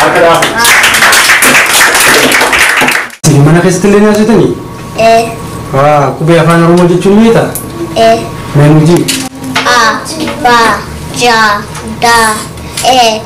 Harka dhaaf. Isin mana keessatti illee nyaachitanii? Haa, qubee afaan Oromoo jechuun ni beektaa? Mee nuti.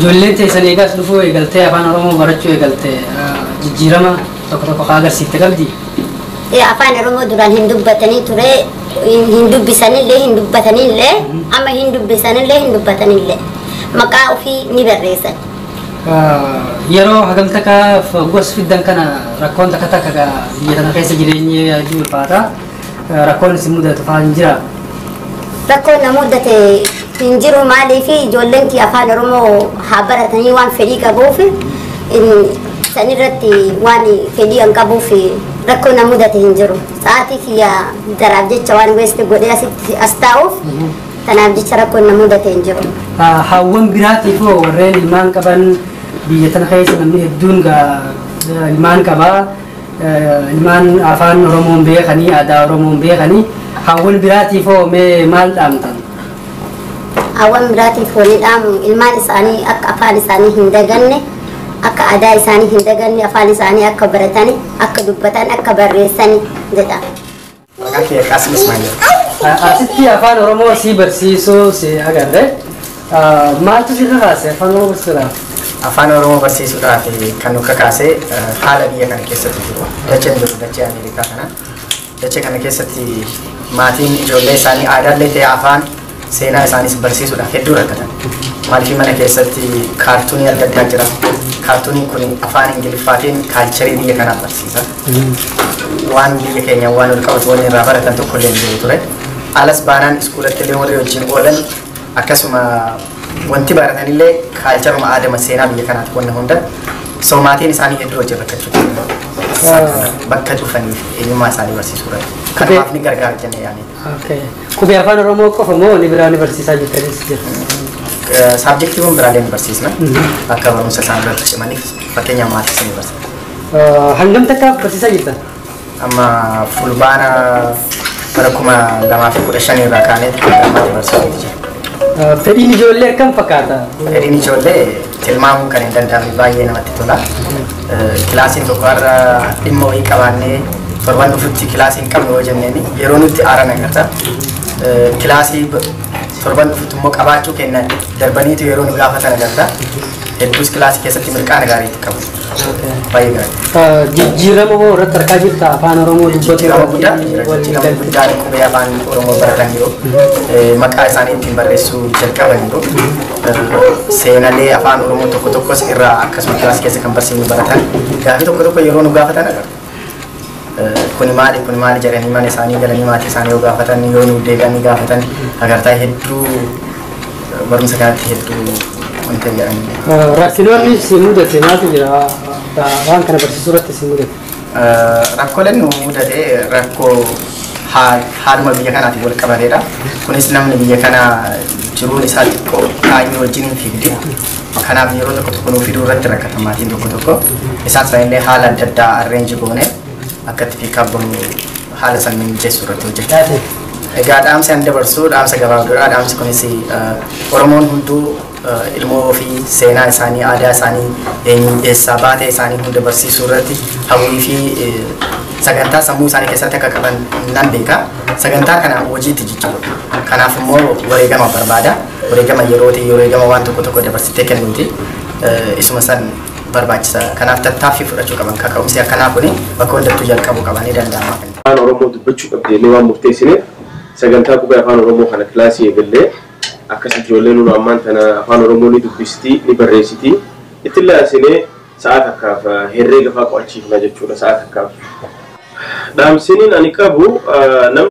Ijoolleen teessan eega as dhufuu eegaltee Afaan Oromoo barachuu eegalte jijjiirama tokko tokko ka agarsiifte qabdii? Ee Afaan Oromoo duraan hin dubbatanii ture, hin dubbisanillee, hin dubbatanillee, amma hin dubbisanillee, hin dubbatanillee. Maqaa ofii ni barreessan. Yeroo hagam takka hogguu as fiddan kana rakkoon takka takka biyya kana keessa jireenyi hedduu ulfaata. Rakkoon isin mudatu faa hin jiraa? Rakkoon na mudate hin jiru maaliif ijoolleen kiyya afaan Oromoo haa baratanii waan fedhii qabuuf san irratti waan fedhii an qabuuf rakkoo na mudate hin jiru. Sa'aatii kiyya daraaf jecha waan weesti godhee asitti as taa'uuf kanaaf jecha rakkoon na mudate hin jiru. Hawwan biraatiif hoo warreen ilmaan qaban biyya tana keessa namni hedduun ilmaan qabaa. Ilmaan Afaan Oromoon beekanii, aadaa Oromoon beekanii hawwan biraatiif hoo mee maal dhaamtan? Hawwan biraatiif wanni dhaamu ilmaan isaanii akka afaan isaanii hin daganne, akka aadaa isaanii hin daganne, afaan isaanii akka baratani, akka dubbatan, akka barreessani jedha. Maqaan kiyya Qaasim Ismaa'il jedhama. Asitti afaan Oromoo si barsiisuu si agarre. Maaltu si kakaase afaan Oromoo barsiisuudhaaf? Afaan Oromoo barsiisuudhaaf kan nu kakaase haala biyya kana keessatti jiru. Dacheen jiru dachee Ameerikaa kana. Dachee kana keessatti maatiin ijoollee isaanii aadaallee ta'e afaan Seenaa isaaniis barsiisuudhaaf hedduu rakkatan. Maaliifii mana keessatti kaartuunii adda addaa jira. Kaartuuniin kun afaan Ingiliffaatiin kaalcharii biyya kanaa barsiisa. Waan biyya keenya waan ol qabatu wanni irraa baratan tokko illee jiru ture. Alas baanaan iskuulatti illee warri wajjin oolan akkasuma wanti baratan illee kaalcharuma aadama seenaa biyya kanaati wanna hunda. So maatiin isaanii hedduu wajjin rakkachuu ture. Bakka cufaniif eenyummaa isaanii barsiisuu irratti. Kanaaf ni gargaara jennee yaadne. Qubee afaan Oromoo qofa moo ni biraa ni barsiisaa jirtanis jira? Saabjektiiwwan biraalee ni barsiisna. Akka barumsa isaan irratti cimaniif fakkeenyaaf maatis ni barsiisa. Hangam takka barsiisaa jirta? Amma fulbaana bara kuma lamaa fi kudha shanii irraa kaanee ammaatti barsiisuuf jira. Fedhiin ijoollee akkam fakkaata? Fedhiin ijoollee tilmaamuun kan hin danda'amne baay'ee namatti tola. kilaasiin tokko har'a dhimma wayii qabaannee torban dhufutti kilaasii hin qabnu yoo jenneen yeroo nutti aaran agarta. Kilaasii torban dhufutti immoo qabaachuu kenna darbaniitu yeroo nu gaafatan agarta. Hedduus kilaasii keessatti mirqaana gaariitti qabu. Baay'ee gaarii. Jijjiirama hoo irratti argaa jirta afaan Oromoo dubbatu Jijjiirama guddaa jijjiirama guddaa qubee afaan Oromoo baratan yoo maqaa isaanii ittiin barreessuu jalqaban yoo seenalee afaan oromoo tokko tokkos irraa akkasuma kilaas keessa kan barsiifnu baratan gaafii tokko tokko yeroo nu gaafatan agarra. Kuni maali kuni maali jedhanii mana isaanii galanii maatii isaanii yoo gaafatan yoo nu deebi'anii gaafatan agartaa hedduu barumsa kanatti hedduu wanta jedhanii. Rakkinoonni si mudate maaltu jira? Waan kana barsiisuu irratti si mudate. Rakkoleen nu mudate rakkoo haaluma biyya kanaatiin wal qabateedha. Kunis namni biyya kana jiruun isaa xiqqoo kaayyoo wajjin hin fiigdi. Kanaaf yeroo tokko tokko nuuf fiduu irratti rakkata maatiin tokko tokko. Isaan sana illee haala adda addaa arreenji goone akka itti piikaap goonu haala sana mijeessuu irratti hojjechaa Egaa dhaamsi an dabarsu dhaamsa gabaabduudha. Dhaamsi kunis Oromoon hunduu ilmoo ofii seenaa isaanii, aadaa isaanii, eenyu eessaa baatee isaanii hunda barsiisuu irratti hawwii fi sagantaa sammuu isaanii keessatti akka qaban nan beeka. Sagantaa kana hojiitti jijjiirudha. Kanaaf immoo wareegama barbaada. Wareegama yerootii, wareegama waan tokko tokko dabarsitee kennuuti. Isuma san barbaachisa. Kanaaf tattaaffii fudhachuu qaban. Kaka'umsi akkanaa kun bakka hundattuu jalqabuu qaban ni danda'ama. Afaan Oromoo dubbachuu qabdeellee waan murteessineef sagantaa qubee Afaan Oromoo kana kilaasii eegallee Akkas ijoolleen hunu ammaan tana Afaan Oromoo ni dubbisiti, ni barreessiti. Ittillee aansinee sa'aa takkaaf herreega faa qo'achiifna jechuu dha, sa'aa takkaaf. Dhaamsiniin ani qabu namni.